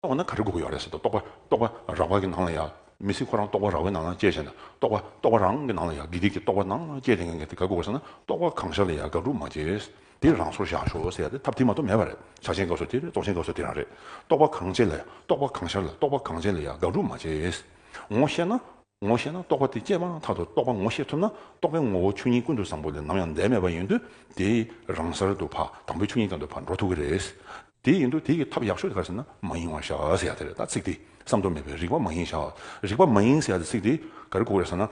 འོ་ན་ག་རེ་དགོས་ཀྱི་ཡོད་རེད་ཟེར་ཏེ་རྟོག་པ་རྟོག་པ་རང་བ་གི་ནང་ལ་ཡང་མི་སྲིད་ཁོ་རང་རྟོག་པ་རང་བའི་ནང་ལ་སྐྱེས་ཟེར་ན་རྟོག་པ་རྟོག་པ་རང་གི་ནང་ལ་ཡང་དགེ་སྡིག་གི་རྟོག་པ་ནང་ལ་སྐྱེས་དེ་ངས་དེ་ག་དགོས་ཟེར་ན་རྟོག་པ་གང་ཤར་ལ་ཡང་དགག་སྒྲུབ་མ་བྱེད། དེ་རང་སོར་བཞག་ཞོག་ཟེར་ཏེ་ཐབས་དེ་མ་གཏོགས་མེད་པ་རེད་བྱ་བྱེད་དགག་བཟོ་དེ་རེད་རྟོག་བྱེད་དགག་བཟོ་དེ་རང་རེད་རྟོག་པ་གང་སྐྱེས་ལ་ཡང་རྟོག་པ་གང་ཤར་ལ་རྟོག་པ་གང་སྐྱེས་ལ་ཡང་དགག་སྒྲུབ་མ་བྱེད། ངོ་ཤེས་ན། ངོ་ཤེས་ན་རྟོག་པ་དེ་སྐྱེས་པའང་མཐའ་དང་རྟོག་པ་ངོ་ཤེས་ཐུབ་ན་རྟོག་པའི་ངོ་བོ་ཆོས་ཉིད་ཀུན་ཏུ་བཟང་པོ་ལས་ནམ་ཡང་འདས་མེད་པ་ཡིན་དུས་དེས་རང་སར་དུ་བ་དང་པོའི་ཆོས་ཉིད་དང་དུ་བར་འགྲོ་ཐུབ་ཀྱི་རེད། དེ་ཡིན་དུས་དེ་ཡི་ཐབས་ཡག་ཤོས་ག་ཟེར་ན་མ་ཡེངས་བར་བཞག་ཟེར་ཡག་དེ་རེད་ད་ཚིག་དེ་བསམ་དོན་མེད་པས་རིག་པ་མ་ཡེངས་བཞག་རིག་པ་མ་ཡེངས་ཟེར་ཡག་དེ་ཚིག་དེ་ག་རེ་གོ་གི་རེད་ཟེར་ན།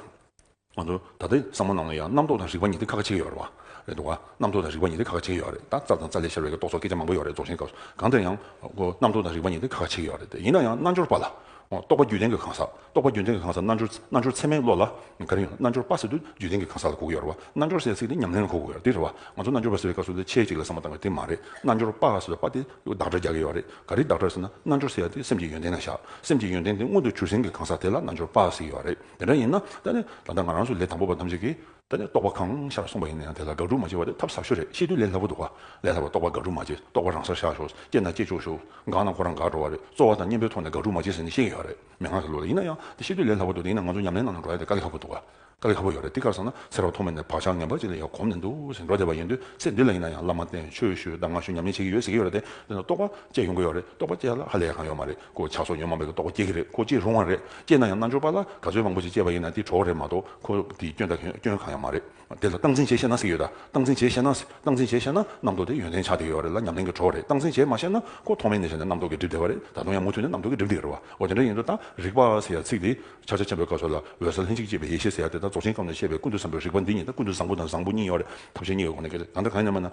ང་ཚོ་ད་ལྟའི་བསམ་བློ་རྣམས་ལ་ཡང་རྣམ་རྟོག་དང་རིག་པ་གཉིས་དེ་ཁ་ཁ་ཆེ་གི་ཡོད་རེད་བ། རེད་འདུག་བ། རྣམ་རྟོག་དང་རིག་པ་གཉིས་དེ་ཁ་ཁ་ཆེ་གི་ཡོད་རེད་ད་རྩ་དང་རྩ་ལས་ཤར་བའི་རྟོག་ཚོགས་སྐད་ཆ་མང་པོ་ཡོད་རེད་རྫོགས་ཆེན་སྐབས་སུ་གང་དེར་ཡང་རྣམ་རྟོག་དང་རིག་པ་གཉིས་དེ་ཁ་ཁ་ཆེ་གི་ཡོད་རེད་དེ་ཡིན་ན་ཡང་རྣལ་འབྱོར་པ་ལ་རྟོག་པ་རྒྱུད་ལྡན་གྱི་གང་ཟག། རྟོག་པ་རྒྱུད་ལྡན་གྱི་གང་ཟག་རྣལ་འབྱོར། རྣལ་འབྱོར་ཚད་མའི་བློ་ལ། ག་རེ་ཡོད་ན་རྣལ་འབྱོར་པ་ཟེར་དུས་རྒྱུད་ལྡན་གྱི་གང་ཟག་ལ་གོ་གི་ཡོད་རེད་བ། རྣལ་འབྱོར་ཟེར་ཚིག་དེ་ཉམས་ལེན་ལ་གོ་གི་ཡོད་རེད་བ། ང་ཚོ་རྣལ་འབྱོར་པ་ཟེར་བའི་སྐབས་སུ་ལས་ཆེད་ཅིག་ལ་ཟ་མ་ཏང་གི་དེ་མ་རེད། རྣལ་འབྱོར་པ་ཟེར་བའི་པ་དེ་བདག་སྒྲ་རྒྱག་གི་ཡོད་རེད། ག་རེ་བདག་སྒྲ་ཟེར་ན་རྣལ་འབྱོར་ཟེར་བ་དེ་སེམས་ཀྱི་ཡོན་ཏན་ན་བཞག་སེམས་ཀྱི་ཡོན་ཏན་དེ་མངོན་དུ་གྱུར་ཟིན་གྱི་གང་ཟག་དེ་ལ་རྣལ་འབྱོར་པ་ཟེར་གི་ཡོད་རེད་དེ་འདྲ་ཡིན་ན། ད་ནི་ད་ལྟ་ང་རང་ཚོ་ལས་དང་པོ་པ་ཐམས་ཅད་ཀྱིས། ད་ནི་རྟོག་པ་གང་ཤར་གསུངས་པ་ཡིན་ན་ཡང་དེ་ལ་དགག་སྒྲུབ་མ་བྱེད་པ་དེ་ཐབས་ཟབ་ཤོས་རེད་ཤེས་དུས་ལས་སླ་པོ་འདུག་ག་ལས་སླ་བ་རྟོག་པ་དགག་སྒྲུབ་མ་བྱེད་རྟོག་པ་རང་སར་བཞག་ཞོག་སྐྱེས་ན་སྐྱེས་ཆོག་ཞོག་འགག་ན་ཁོ་རང་འགག་འགྲོ་བ་རེད་རྩོལ་བ་དང་གཉེན་པོའི་ཐོག་ནས་དགག་སྒྲུབ་མ་བྱེད་ཟེར་ནས་བཤད་ཀྱི་ཡོད་རེད་མན་ངག་གི་ལུགས་ལ་ཡིན་ན་ཡང་དེ་ཤེས་དུས་ལས་སླ་པོ་འདུག་དེ་ཡིན་ན་ང་ཚོ་ཉམས་ལེན་ནང་ནས་འགྲོ་ཡ་དེ་དཀའ་ལས་ཁག་པོ་འདུག་ག་དཀའ་ལས་ཁག་པོ་ཡོད་རེད་དེ་ག་ཟེར་ན་ཚེ་རབས་ཐོག་མ་ནས་བག་ཆགས་ངན་པ་གཅིག་ལ་ཡང་གོམས་ནས་འདུག་ཟེར་འགྲོ་བསྡད་པ་ཡིན་དུས་ཚེ་འདི་ལ་ཡིན་ན་ཡང་བླ་མ་བསྟེན་ཆོས་ཞུས་གདམས་ངག་ཞུས་ཉམས་ལེན་བྱེད་ཀྱི་ཡོད་ཟེར་གྱི་ཡོད་རེད་དེ་ནས་རྟོག་པ་བཅས་ཡོང་གི་ཡོད་རེད་རྟོག་པ་བཅས་ལ་ཧ་ལས་ཡག་གང་ཡོད་མ་རེད་ཁོ་ཆགས་སོགས་ཉོན་མོངས་པའི་རྟོག་པ་སྐྱེ་གི་རེད་ཁོ་སྐྱེ་རུང་བ་རེད་སྐྱེས་ན་ཡང་རྣལ་འབྱོར་པ་ལ་དགའ་ཚོད་མང་པོ་ཞིག་སྐྱེས་པ་ཡིན་ན་དེ་གྲོགས་རེད་མ་གཏོགས་ཁོ་དེའི་སྐྱོན་དང་སྐྱོན་གང་ཡང་མ་རེད་དེ་ལ་སྟངས་འཛིན་བྱེད་ཤེས་ན་སྲིད་ཡོད་ད་སྟངས་འཛིན་བྱེད་ཤེས་ན་སྟངས་འཛིན་བྱེད་ཤེས་ན་རྣམ་རྟོག་དེ་ཡོན་ཏན་ཆགས་བསྡད་ཡོད་རེད་ལ་ཉམས་ལེན་གྱི་གྲོགས་རེད་སྟངས་འཛིན་བྱེད་མ་ཤེས་ན་ཁོ་ཐོག་མའི་གནས་ཆ་ནས་རྣམ་རྟོག་གིས་བསྒྲིབས་བསྡད་པ་རེད་ད་དུང་ཡང་མུ་མཐུད་ནས་རྣམ་རྟོག་གིས་བསྒྲིབས་བསྡད་ཡོད་རེད་བ་འོ་དེ་འདྲ་ཡིན་དུས་ད་རིག་པ་ཟེར་ཡ་ཚིག་དེ་ཕྱག་རྒྱ་ཆེན་པོའི་བཀའ་སྲོལ་ལ་འོད་གསལ་ལྷན་ཅིག་སྐྱེས་པའི་ཡེ་ཤེས་ཟེར་ཡ་དེ་ད་རྫོགས་ཆེན་སྐབས་ནས་བཤད་པའི་ཀུན་ཏུ་བཟང་པོའི་རིག་པ་འདི་ཉིད་ད་ཀུན་ཏུ་བཟང་པོ་དང་བཟང་པོ་གཉིས་ཡོད་རེད་ཐབས་ཤེས་གཉིས་ཡོད་ཁོ་ནའི་སྐད་ཆ་གང་འདྲ་གང་ཡིན་ནམ་ཡང་ན་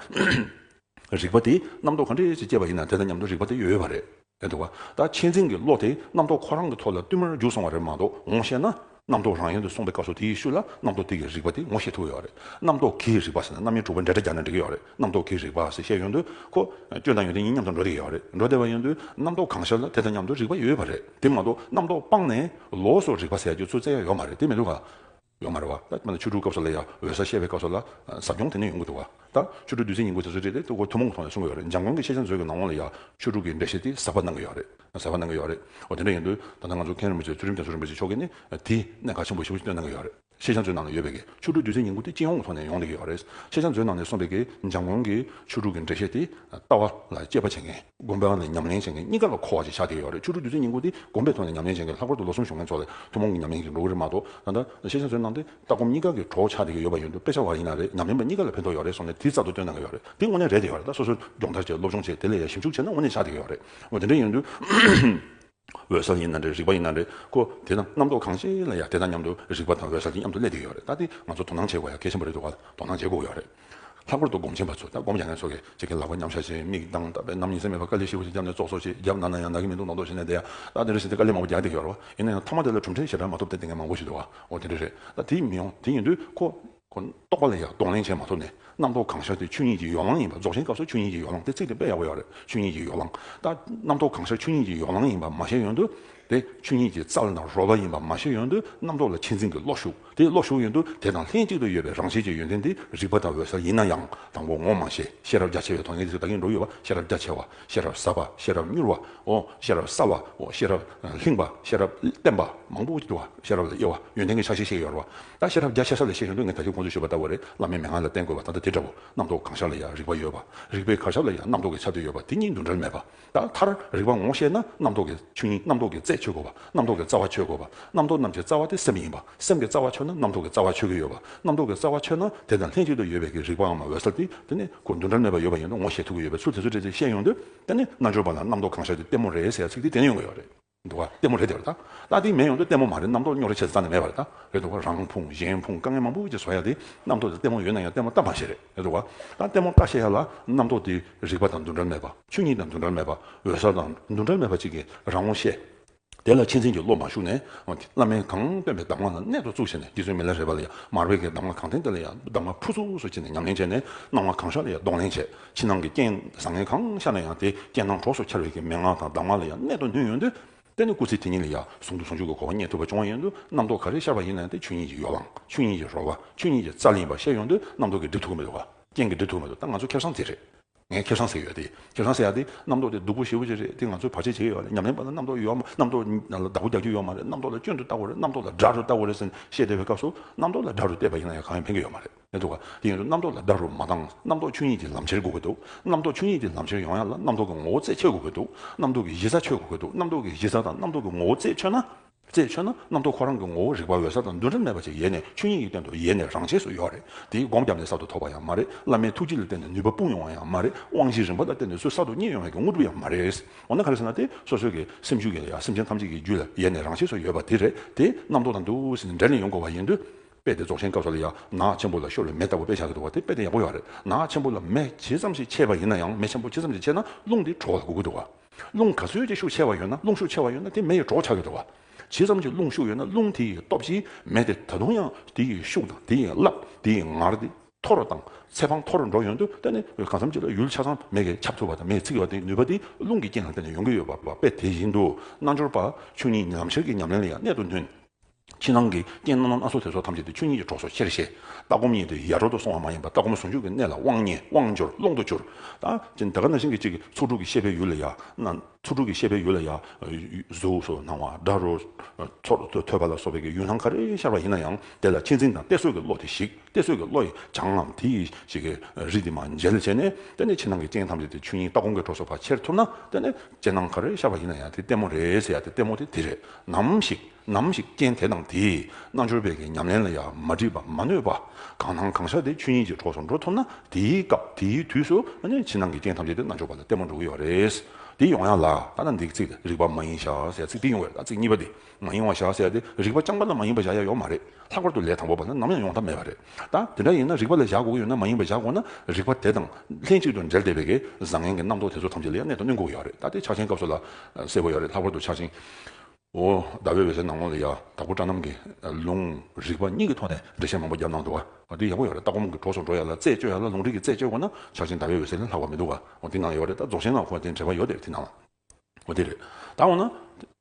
རིག་པ་དེ་རྣམ་རྟོག་གང་འདྲ་ཞིག་སྐྱེས་པ་ཡིན་ན་དེ་དང་མཉམ་དུ་རིག་པ་དེ་ཡོད་ཡོད་པ་རེད། དེ་འདུག་ག་ད་ཁྱེད་འཛིན་གྱི་བློ་དེ་རྣམ་རྟོག་ཁོ་རང་གི་ཐོག་ལ་བསྟུད་མར་རྒྱུགས་སོང་བ་རེད་མ་གཏོགས་ངོ་ཤེས་ན། རྣམ་རྟོག་རང་ཡན་དུ་སོང་པའི་སྐབས་སུ་དེའི་ཤུལ་ལ་རྣམ་རྟོག་དེ་གིས་རིག་པ་དེ་ངོ་ཤེས་ཐུབ་ཡོད་རེད། རྣམ་རྟོག་གིས་རིག་པ་ཟེར་ན་རྣམ་དབྱེ་དྲུག་པ་འདྲེས་སྒྲ་རྒྱག་ན་འགྲིག་གི་ཡོད་རེད། རྣམ་རྟོག་གིས་རིག་པ་ཟེར་ཤེས་ཡོན་དུ་ཁོ། སྐྱོན་དང་ཡོན་ཏན་གཉིས་མཉམ་དུ་འགྲོ་བསྡད་ཀྱི་ཡོད་རེད། འགྲོ་བསྡད་པ་ཡོན་དུ་རྣམ་རྟོག་གང་ཤར་ལ་དེ་དང་མཉམ་དུ་རིག་པ་ཡོད་པ་རེད། དེ་མ་གཏོགས་རྣམ་རྟོག་སྤངས་ནས་ལོགས་སུ་རིག་པ་ཟེར་རྒྱུ་ཚུ་རྩལ་ཡ་ཡོད་མ་རེད་དེ་མི་འདུག་ག། ཡོང་མ་རུང་བ། ད་ནི་ཆོས་དྲུག་སྐབས་སུ་ལས་ཡ་འོད་ཟ་བཤད་པའི་སྐབས་སུ་ལ། ཟབ་སྦྱོང་དེ་ནས་ཡོང་གི་འདུག་བ། ད་ཆོས་དྲུག་བདུད་རྩི་ཉིང་པོའི་དེ་ཚོའི་རིགས་ལས་ཐུགས་ཁུར་ཐུན་མོང་གི་ཐོག་ནས་གསུང་གི་ཡོད་རེད་འཇམ་དབྱངས་ཀྱི་ཤེས་བྱ་མཛོད་ཀྱི་ནང་དབང་ལ་ཡ། ཆོས་དྲུག་གི་འགྲེལ་བཤད་དེ་ཟབ་པ་གནང་གི་ཡོད་རེད། ཟབ་པ་གནང་གི་ཡོད་རེད། འོ་དེ་འདྲ་ཡིན་དུས་ད་ལྟ་ང་ཚོ་མཁན་རིན་པོ་ཆེ་ཚུལ་ཁྲིམས་རྒྱ་མཚོ་རིན་པོ་ཆེ་མཆོག་གིས་ནི་དེ་གནད་འགག་ཆེན་པོ་བཞི་བོ་ཞིག་བཏོན་གནང་གི་ཡོད་རེད། ཤེས་བྱ་མཛོད་ནང་ནས་ཡོད་པའི་གི་ཆོས་དྲུག་བདུད་རྩི་ཉིང་པོ་དེ་སྤྱི་ཡོངས་ཀྱི་ཐོག་ནས་ཡོང་ལེ་གི་ཡོད་རེད། ཤེས་བྱ་མཛོད་ནང་ནས་གསུངས་པའི་གི་འཇམ་དབྱངས་ཀྱི་ཆོས་དྲུག་གི་འགྲེལ་བཤད་དེ་ལྟ་བ་ལ་དཔྱད་པ་བྱེད་མཁན། སྒོམ་པའང་ནི་ཉམས་ལེན་བྱེད་མཁན་གཉིས་ཀ་ལ་གོ་བ་ཞིག་ཆགས་བསྡད་ཡོད་རེད་ཆོས་དྲུག་བདུད་རྩི་སྙིང་པོ་འདི་སྒོམ་པའི་ཐོག་ནས་ཉམས་ལེན་བྱེད་མཁན་ལྷག་པར་དུ་ལོ་གསུམ་བཞུགས་མཁན་ཚོ་ལས་ཐུན་མོང་གི་ཉམས་ལེན་གྱི་འགྲོ་གི་རེད་མ་གཏོགས་ད་ལྟ་ཤེས་བྱ་བཟོས་གནང་སྟེ་ལྟ་སྒོམ་གཉིས་ཀ་གི་གྲོགས་ཆགས་བསྡད་ཀྱི་ཡོད་པ་ཡིན་དུས་དཔེ་ཆ་བ་ཡིན་ན་རེད་ཉམས་ལེན་པ་གཉིས་ཀ་ལ་ཕན་ཐོགས་ཡོད་རེད་སོགས་ནས་དུས་རྩ་ཏུ་བཏོན་གནང་གི་ཡོད་རེད་དེ་དངོས་གནས་རེད་བསྡད་ཡོད་རེད་ད་སོ་སོས་སྦྱོང་བརྡར་བྱས་སློབ་སྦྱོང་བྱས་དེ་ལ་ཡང་ཞིབ་འཇུག་བྱས་ན་དངོས་གནས་ཆགས་བསྡད་ཀྱི་ཡོད་རེད་དེ་འདྲ་ཡིན་དུས། འོད་གསལ་ཡིན་ན་རེད་རིག་པ་ཡིན་ན་རེད་ཀོ། དེས་ན་རྣམ་རྟོག་གང་ཤེས་ལ་ཡང་དེ་དང་མཉམ་དུ་རིག་པ་དང་འོད་གསལ་གྱི་མཉམ་དུ་གནས་དུས་ཡོད་རེད་ད་འདི་ང་ཚོ་དོ་སྣང་བྱེད་དགོས་ཡ་གལ་ཆེན་པོ་རེད་འདུག་ག་དོ་སྣང་བྱེད་དགོས་ཡོད་རེད། ལྷག་པར་དུ་སྒོམ་ཆེན་པ་ཚོས་ད་སྒོམ་ཡ་ངས་ཚོར་གི་ཅི་གི་ལག་པ་མཉམ་བཞག་བྱེད་མིག་གདངས་བལྟ་བས་ནམ་ཉིན་སེམས་མེད་པར་དཀའ་ལས་ཤི་བོ་ཞིག་བརྒྱབ་ནས་ཙོག་ཙོག་ཞིག་བརྒྱབ་ན་ན་ཡང་ན་གི་མི་འདུག་ནོག་ནོག་བྱེད་ནས་བསྡད་ཡ་ད་དེ་འདྲ་ཞིག་དེ་དཀའ་ལས་མང་པོ་རྒྱག་བསྡད་ཡོད་རེད་བ་ཡིན་ན་ཡང་ཐ་མ་དེ་ལ་གྲུབ་འབྲས་ཞེ་དྲག་མ་ཐོབ་བསྡད་དེ་ངས་མང་པོ་ཞིག་འདུག་ག་འོ་དེ་འདྲ་རེད་ད་དེ་མི་ཡོང་དེ་ཡིན་དུས་ཁོ། ཁོ་རྟོགས་པ་ལ་ཡང་གདོང་ལེན་བྱས་མ་ཐུབ་ནས་རྣམ་རྟོག་གང་ཤར་དེ་ཆོས་ཉིད་ཀྱི་ཡོ་ལང་ཡིན་པ་རྫོགས་ཆེན་སྐབས་སུ་ཆོས་ཉིད་ཀྱི་ཡོ་ལང་དེ་ཚིག་དེ་དཔེ་ཡག་པོ་ཡག་རེད་ཆོས་ཉིད་ཀྱི་ཡོ་ལང་ད་རྣམ་རྟོག་གང་ཤར་ཆོས་ཉིད་ཀྱི་ཡོ་ལང་ཡིན་པ་མ་བཤད་ཡོན་དུ་དེ་ཆོས་ཉིད་ཀྱི་རྩ་བ་དང་རོལ་བ་ཡིན་པ་མ་བཤད་ཡོན་དུ་རྣམ་རྟོག་ལ་ཆེད་འཛིན་གྱི་བློ་ཞུགས་དེ་བློ་ཞུགས་ཡོན་དུ་དེ་དང་ལྷན་གཅིག་ཏུ་ཡོད་པའི་རང་བཞིན་གྱི་ཡོན་ཏན་དེ་རིག་པ་དང་འོད་གསལ་ཡིན་ན་ཡང་དང་པོ་ངོ་མ་ཤེས་ཤེས་རབ་རྒྱ་ཆེ་བའི་ཐོག་ནས་དེ་ཚོ་བདག་གིས་འགྲོ་ཡོད་པ་ཤེས་རབ་རྒྱ་ཆེ་བ་ཤེས་རབ་ཟབ་པ་ཤེས་རབ་མྱུར་བའོ། ཤེས་རབ་གསལ་བའོ། ཤེས་རབ་ལྷིང་བ། ཤེས་རབ་བརྟན་པ། མང་པོ་འདུ་བ། ཤེས་རབ་ལ་དབྱེ་བ། ཡོན་ཏན་གྱི་ཆ་ཤས་ཤིག་ཡོད་རེད་བ། ད་ཤེས་རབ་བརྒྱ་ཆ་ས་ལས་ཤེས་ཤིང་ལུས་ངན་ད་ལྟའི་ཁོང་ཚོས་ཞུས་པ་ལྟ་བུ་རེད་བླ་མའི་མན་ངག་ལ་བརྟེན་དགོས་པ་ད་ལྟ་དེ་འདྲ་བོ། རྣམ་རྟོག་གང་ཤར་ལ་ཡང་རིག་པ་ཡོད་བ། རིག་པའི་གར་ཤར་ལ་ཡང་རྣམ་རྟོག་གི་ཆ་དེ་ཡོད་བ་དེ་གཉིས་འདུ་འབྲལ་མེད་པ། ད་མཐར། རིག་པ་ངོ་ཤེས་ན་རྣམ་རྟོག་གི་ཆོས་ཉིད་རྣམ་རྟོག་གི་རྩད་ཆོད་དགོས་བ། རྣམ་རྟོག་གི་རྩ་བ་ཆོད་དགོས་བ། རྣམ་རྟོག་རྣམས་ཀྱི་རྩ་བ་དེ་སེམས་ཡིན་པ། སེམས་ཀྱི་རྩ་བ་ཆོད་ན་རྣམ་རྟོག་གི་རྩ་བ་ཆོད་ཀྱི་ཡོད་པ། རྣམ་རྟོག་གི་རྩ་བ་ཆོད་ན་དེ་དང་ལྷན་ཅིག་ཏུ་ཡོད་པའི་ཀྱི་རིག་པའང་མ་འོད་གསལ་ཏེ་དེ་ནི་སྒོ་མདུན་དགྲར་གནས་པ་ཡོད་པ་ཡིན་ནོ་ངོ་ཞེས་ཐུག་གི་ཡོད་པའི་ཚུལ་དེ་ཚོ་བཀྲལ་ཏེ་བཤད་ཡོང་དུས་དེ་ནི་རྣལ་འབྱོར་པ་ལ་རྣམ་རྟོག་གང་ཤར་དུས་ལྟད་མོ་རེད་ཟེར་ཚིག་དེ་བསྟན་ཡོང་གི་ཡོད་རེད། འདུག་བ། ལྟད་མོ་རེད་དེ་བར་ད། ལྟ་དེ་མེད་ཡོང་དུས་ལྟད་མོ་མ་རེད་རྣམ་རྟོག་རྙོག་རེ་ཆེ་ས་ཙམ་ནས་མེད་པ་རེད་ད། རེད་འདུག་བ། རང་ཕུང་གཞན་ཕུང་དཀའ་ངལ་མང་པོ་ཅིག་བཟོ་ཡ་དེ་རྣམ་རྟོག་དེ་ལྟད་མོ་ཡོད་ན་ཡང་ལྟད་མོ་ལྟ་མ་ཤེས་རེད། རེད་འདུག་བ། ད་ལྟད་མོ་ལྟ་ཤེས་ཡ་ལ་རྣམ་རྟོག་དེ་རིག་པ་དང་མདུན་དགྲར་མེད་པ། ཆོས་ཉིད་དང་མདུན་དགྲར་མེད་པ། འོད་གསལ་དང་མདུན་དགྲར་མེད་པ་ཅིག་གི་རང་ངོ་ཤེས། དེ་ལ་ཕྱི་འཛིན་གྱི་བློ་མ་ཞུགས་ནས། བླ་མའི་གང་སྟོན་པའི་གདམས་ངག་ལ་གནད་དུ་བཙུགས་བྱས་ནས་འདི་ཚོའི་མི་ལ་རས་པ་ལ་ཡང་མར་བས་ཀྱི་གདམས་ངག་གང་བསྟན་དེ་ལ་ཡང་གདམས་ངག་ཕུར་ཚུགས་སུ་བྱས་ནས་ཉམས་ལེན་བྱས་ནས་སྣང་བ་གང་ཤར་ལ་ཡང་གདོང་ལེན་བྱེད། ཕྱི་ནང་གི་རྐྱེན་བཟང་ངན་གང་ཤར་ན་ཡང་དེ་རྐྱེན་སྣང་གྲོགས་སུ་འཁྱེར་བས་ཀྱི་མན་ངག་དང་གདམས་ངག་ལ་ཡང་གནད་དུ་བསྣུན་ཡོད་དུས། དེ་ནི་སྐུ་ཚེ་དེ་ཉིད་ལ་ཡང་ཟུང་དུ་ཟུང་འཇུག་གི་གོ་བ་རྙེད་ཐུབ་པ་བྱུང་བ་ཡིན་དུས་རྣམ་རྟོག་ག་རེ་ཤར་བ་ཡིན་ན་དེ་ཆོས་ཉིད་ཀྱི་ཡོ་ལང་ཆོས་ཉིད་ཀྱི་རོལ་བ་ཆོས་ཉིད་ཀྱི་རྩ་ལེན་པ་ཤེས་ཡོང་དུས་རྣམ་རྟོག་གིས་སྒྲིབ་ཐུབ་ཀྱི་མི་འདུག་ག་རྐྱེན་གྱིས་སྒྲིབ་ཐུབ་ཀྱི་མི་འདུག་ད་ང་ཚོ་ཁེར་སང་དེ་རེད། ངས་ཁེར་སང་ཟེར་ཡོད་དེ། ཁེར་སང་ཟེར་ཡག་དེ། རྣམ་རྟོག་དེ་སྡུག་པོ་ཞེ་པོ་ཅིག་རེད་དེ་ང་ཚོས་བར་ཆད་བྱེད་ཀྱི་ཡོད་རེད་ཉམས་ལེན་པ་ལ་རྣམ་རྟོག་ཡོད་མ་རྣམ་རྟོག་ལ་བདག་པོ་རྒྱག་རྒྱུ་ཡོད་མ་རེད་རྣམ་རྟོག་ལ་སྐྱོན་དུ་བལྟ་དགོས་རེད་རྣམ་རྟོག་ལ་དགྲ་རུ་བལྟ་དགོས་རེད་ཟེར་ནས་བཤད་བསྡད་པའི་སྐབས་སུ་རྣམ་རྟོག་ལ་དགྲ་རུ་བལྟས་པ་ཡིན་ན་ཡང་གང་ཡང་ཕན་གྱི་ཡོད་མ་རེད་མི་འདུག་ག་དེ་ཡིན་དུས་རྣམ་རྟོག་ལ་དགྲ་རུ་མ་བཏང་རྣམ་རྟོག་ཆོས་ཉིད་ཀྱི་ལམ་ཁྱེར་དགོས་ཀྱི་འདུག་རྣམ་རྟོག་ཆོས་ཉིད་ཀྱི་ལམ་ཁྱེར་ཡོང་ཡག་ལ་རྣམ་རྟོག་གི་ངོ་བོ་རྩད་ཁྱེར་དགོས་ཀྱི་འདུག་རྣམ་རྟོག་གི་གཞི་རྩ་ཆོད་དགོས་ཀྱི་འདུག་རྣམ་རྟོག་གི་གཞི་རྩ་དང་རྣམ་རྟོག་གི་ངོ་བོ་རྩད་ཆོད་ན། ཅེས་མཆོད་ན་རྣམ་རྟོག་ཁོ་རང་གི་ངོ་བོ་རིག་པ་འོད་གསལ་དང་འདུ་འབྲལ་མེད་པ་ཅིག་ཡེ་ནས་ཆོས་དབྱིངས་ཡིག་སྟོན་དུ་ཡེ་ནས་རང་ཆས་སུ་ཡོད་རེད་དེའི་སྒོམ་བརྒྱབ་ནས་གསར་དུ་ཐོབ་པ་ཡང་མ་རེད་བླ་མའི་ཐུགས་རྗེ་ལ་བརྟེན་ནས་ནུས་པ་སྤུངས་ཡོང་བ་ཡང་མ་རེད་དབང་བཞི་རིམ་པ་ལ་བརྟེན་ནས་སུ་གསར་དུ་རྙེད་ཡོང་བའི་དངོས་གྲུབ་ཡང་མ་རེད། འོ་ན་ག་རེ་ཟེར་ན་དེ་སོ་སོའི་གི་སེམས་ཤུགས་ཀྱིས་ཡང་སེམས་ཅན་ཐམས་ཅད་ཀྱི་རྒྱུད་ལ་ཡེ་ནས་རང་ཆས་སུ་ཡོད་པ་དེ་རེད་དེ་རྣམ་རྟོག་དང་འདུ་ཟེར་འབྲལ་ནས་ཡོང་དགོས་བ་ཡིན་དུས། དཔེ་དེ་རྫོགས་ཆེན་སྐབས་སུ་ལ་ཡང་ནག་ཆེན་པོ་ལ་ཤོར་བའི་མེ་ལྟ་བུ་དཔེ་བཞག་གི་འདུག་བ་དེ་དཔེ་དེ་ཡག་པོ་ཡོད་རེད་ནག་ཆེན་པོ་ལ་མེ་ཇི་ཙམ་ཞིག་ཆད་པ་ཡིན་ན་ཡང་མེ་ཆེན་པོ་ཇི་ཙམ་ཞིག་ཆད་ན་རླུང་དེ་གྲོ་བ་ལ་འགུག་གི་འདུག་བ། རླུང་ག་ཚོད་ཀྱི་ཤུགས་ཆེ་བ་ཡོད་ན་རླུང་ཤུགས་ཆེ་བ་ཡོད་ན་དེ་མེ་ཡི་གྲོགས་བྱ་ཡོད་དོ། ཇི་ཙམ་གྱི་རླུང་ཤུགས་ཡོད་ན་རླུང་དེ་ཡི་སྟོབས་ཀྱིས་མེ་དེ་ད་དུང་ཡང་དེ་ཡི་ཤུགས་དང་དེ་ཡི་རླབས་དེ་ཡི་ངར་དེ། མཐོ་རུ་དང་ཚད་དཔང་མཐོ་རུ་འགྲོ་ཡོང་དུས་དེ་ནི་གང་འཚམ་གྱི་ལ་ཡུལ་ཆ་ཚང་མེ་གིས་ཁྱབ་ཐུབ་པ་དང་མེས་འཚིག་བ་དེའི་ནུས་པ་དེ་རླུང་གི་རྐྱེན་ལ་བརྟེན་ནས་ཡོང་གི་ཡོད་པ་དཔེ་དེ་བཞིན་དུ་རྣལ་འབྱོར་པ་ཆོས་ཉིད་ཉམས་བཞག་གི་ཉམས་ལེན་ལ་ཡང་གནད་དུ་མཐུན། ཕྱི་ནང་གི་རྐྱེན་སྣ་ཚོགས་དེ་ཚོ་ཐམས་ཅད་དུ་ཆོས་ཉིད་ཀྱི་གྲོགས་སོ་ཤེར་ཤེས། ལྟ་སྒོམ་གཉིས་དེ་ཡར་འགྲོ་དུ་སོང་བ་མ་ཡིན་པར་ལྟ་སྒོམ་ཟུང་འཇུག་གི་གནད་ལ་དབང་ཉེ་དབང་འབྱོར་ཀློང་དུ་གྱུར། ད་ཅི་འདི་ག་ན་ཤིང་གི་གཅིག་གིས་ཚོགས་དྲུག་གི་ཤེས་པའི་ཡུལ་ལ་ཡང། ཚོགས་དྲུག་གི་ཤེས་པའི་ཡུལ་ལ་ཡང། གཟུགས་སོགས་སྣང་བ་སྒྲ་རོ། ཚོར་འདུ་ཐོས་པ་ལ་སོགས་པའི་ཡུལ་སྣང་ག་རེ་ཤར་བ་ཡིན་ན་ཡང་དེ་ལ་ཁྱད་འཛིན་དང་གཏད་སོ་གི་བློ་དེ་ཞིག་གཏད་སོ་གི་བློ་ཡི་བྱང་ངམ་དེ་ཡི་ཞིག་གི་རིས་དེ་མ་འཇལ་བྱས་ནས་དེ་ནས་ཕྱི་ནང་གི་རྐྱེན་ཐམས་ཅད་དེ་ཆོས་ཉིད་ལྟ་སྒོམ་གྱི་གྲོགས་སོ་བ་ཁྱེར་ཐུབ་ན་དེ་ནས་རྐྱེན་སྣང་ག་རེ་ཤར་བ་ཡིན་ན་ཡང་དེ་ལྟད་མོ་རེད་ཟེར་ཡ་དེ་ལྟད་མོ་དེ་དེ་རེད་ནམ་ཞིག། ནམ་ཞིག་རྐྱེན་དེ་དང་དེས་རྣལ་འབྱོར་བས་ཀྱི་ཉམས་ལེན་ལ་ཡང་མ་འདྲིས་པ་མ་ནོས་པ་གང་སྣང་གང་ཤར་དེ་ཆོས་ཉིད་ཀྱི་གྲོགས་སུ་འགྲོ་ཐུབ་ན་དེའི་སྐབས་དེའི་དུས་སུ་ཕྱི་ནང་གི་རྐྱེན་ཐམས་ཅད་དེ་རྣལ་འབྱོར་པ་ལ་བརྟན་པོར་འགྲོ་གི་ཡོད་རེད། དེ་ཡོང་ཡ་ལ་ད་ལྟ་འདིའི་ཚིག་རིག་པ་མ་ཡིན་ཤ་ཟའི་ཚིག་དེ་ཡོང་བས་ད་ཚིག་གཉིས་པ་དེ་མ་ཡིན་བ་ཤ་ཟའི་དེ་རིག་པ་རྐྱང་པ་ལ་མ་ཡིན་པ་བཞག་ཡ་ཡོད་མ་རེད་ལྷག་པར་དུ་ལས་དང་པོ་པ་ལ་ནམ་ཡང་ཡོང་ཐབས་མེད་པ་རེད་ད་དེ་འདྲ་ཡིན་ན་རིག་པ་ལ་བཞག་དགོས་ཀྱི་ཡོད་ན་མ་ཡིན་པ་བཞག་དགོས་ན་རིག་པ་དེ་དང་ལྷན་ཅིག་ཏུ་འབྲེལ་བསྡད་པས་ཀྱི་བཟང་ངན་གྱི་རྣམ་རྟོག་དེ་ཚོ་ཐམས་ཅད་ལ་ཡང་གནད་དུ་བསྣུན་དགོས་ཀྱི་ཡོད་རེད་ད་དེ་ཆགས་ཆེན་སྐབས་སུ་ལ་གསལ་པོ་ཡོད་རེད་ལྷག་པར་དུ་ཆགས་ཆེན། འོ། ཟླ་བའི་འོད་ཟེར་ནག་མོ་ལ་ཡང་དྭགས་པོ་སྤྲ་རྣམས་ཀྱི་ལུང། རིགས་པ་གཉིས་ཀྱི་ཐོག་ནས་འགྲེལ་བཤད་མང་པོ་བརྒྱབ་གནང་འདུག། འོ་འདི་ཡག་པོ་ཡོད་རེད་ད་ཁོ་མོ་གི་གྲོགས་སུ་འགྲོ་ཡ་ལ་རྩད་གཅོད་ཡ་ལ་ལུང་རིགས་ཀྱི་རྩད་གཅོད་དགོས་ན་ཆར་ཆེན་ཟླ་བའི་འོད་ཟེར་ལས་ལྷག་པ་མི་འདུག་ག་འོ་འདི་ནང་ཡོད་རེད་ད་རྫོགས་ཆེན་ནང་ཁོ་དེ་འདྲེ་བ་ཡོད་དེ་དེ་ནང་ལ། འོ་དེ་རེད་ད་འོ་ན།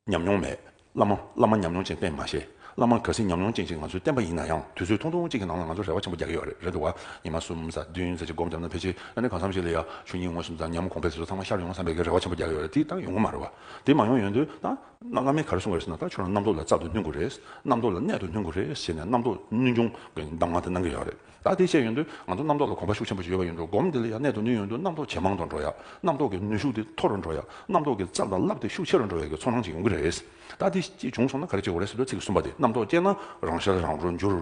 ཉམས་མྱོང་མེད། བླ་མ་བླ་མ་ཉམས་མྱོང་ཅན་བསྟན་མ་ཤེས། བླ་མ་ག་སྲིད་ཉམས་མྱོང་ཅན་ཞིག་ང་ཚོས་བསྟན་པ་ཡིན་ན་ཡང་དུས་ཚོད་ཐུང་ཐུང་གཅིག་གི་ནང་ལ་ང་ཚོར་རེ་བ་ཆེན་པོ་རྒྱག་གི་ཡོད་རེད་འདུག་ག་ཉི་མ་གསུམ་གཟའ་བདུན་གཟའ་གཅིག་སྒོམ་བརྒྱབ་ན་ཕལ་ཆེར་ན་ནི་གང་འཚམ་ཞིག་ལ་ཡང་ཆུ་གཉིས་ངོས་སུ་འཛག་སྙམ་གོང་འཕེལ་དེ་ཚོ་ཚང་མ་ཤར་ཡོང་བསམ་པའི་རེ་བ་ཆེན་པོ་རྒྱག་གི་ཡོད་རེད་དེ་ལྟར་ཡོང་གི་མ་རེད་བ། དེ་མ་ཡོང་ཡོང་དུས། ད་རྣམ་ཀླ་མའི་གར་སྲུང་བས་ན་ད་ཁྱོད་རང་རྣམ་རྟོག་ལ་རྩ་ཏུ་བསྣུན་དགོས་རེད། རྣམ་རྟོག་ལ་གནད་དུ་བསྣུན་དགོས་རེད་ཟེར་ནས་རྣམ་རྟོག་བསྣུན་སྐྱོང་གི་གདམས་ངག་དེ་གནང་གི་ཡོད་རེད། ད་དེ་བཤད་ཡོང་དུས་ང་ཚོ་རྣམ་རྟོག་ལ་གོམས་པ་ཤུགས་ཆེན་པོ་ཞིག་ཡོད་པ་ཡིན་འགྲོ་སྒོམ་དེ་ལ་ཡང་གནད་དུ་བསྣུན་ཡོང་དུས་རྣམ་རྟོག་ཇེ་མང་དུ་འགྲོ་ཡ། རྣམ་རྟོག་གི་ནུས་ཤུགས་དེ་མཐོ་རུ་འགྲོ་ཡ། རྣམ་རྟོག་གི་རྩ་དང་རླབས་དེ་ཤུགས་ཆེ་རུ་འགྲོ་ཡ་གི་ཚོར་སྣང་ཞིག་ཡོང་གི་རེད། ད་དེ་ཅིག་བྱུང་སོང་ན་ག་རེ་བྱེད་དགོས་རེད་ཟེར་དུས་ཚིག་གི་གསུམ་པ་དེ་རྣམ་རྟོག་སྐྱེས་ན་རང་ཤར་རང་རོ་འགྱུར།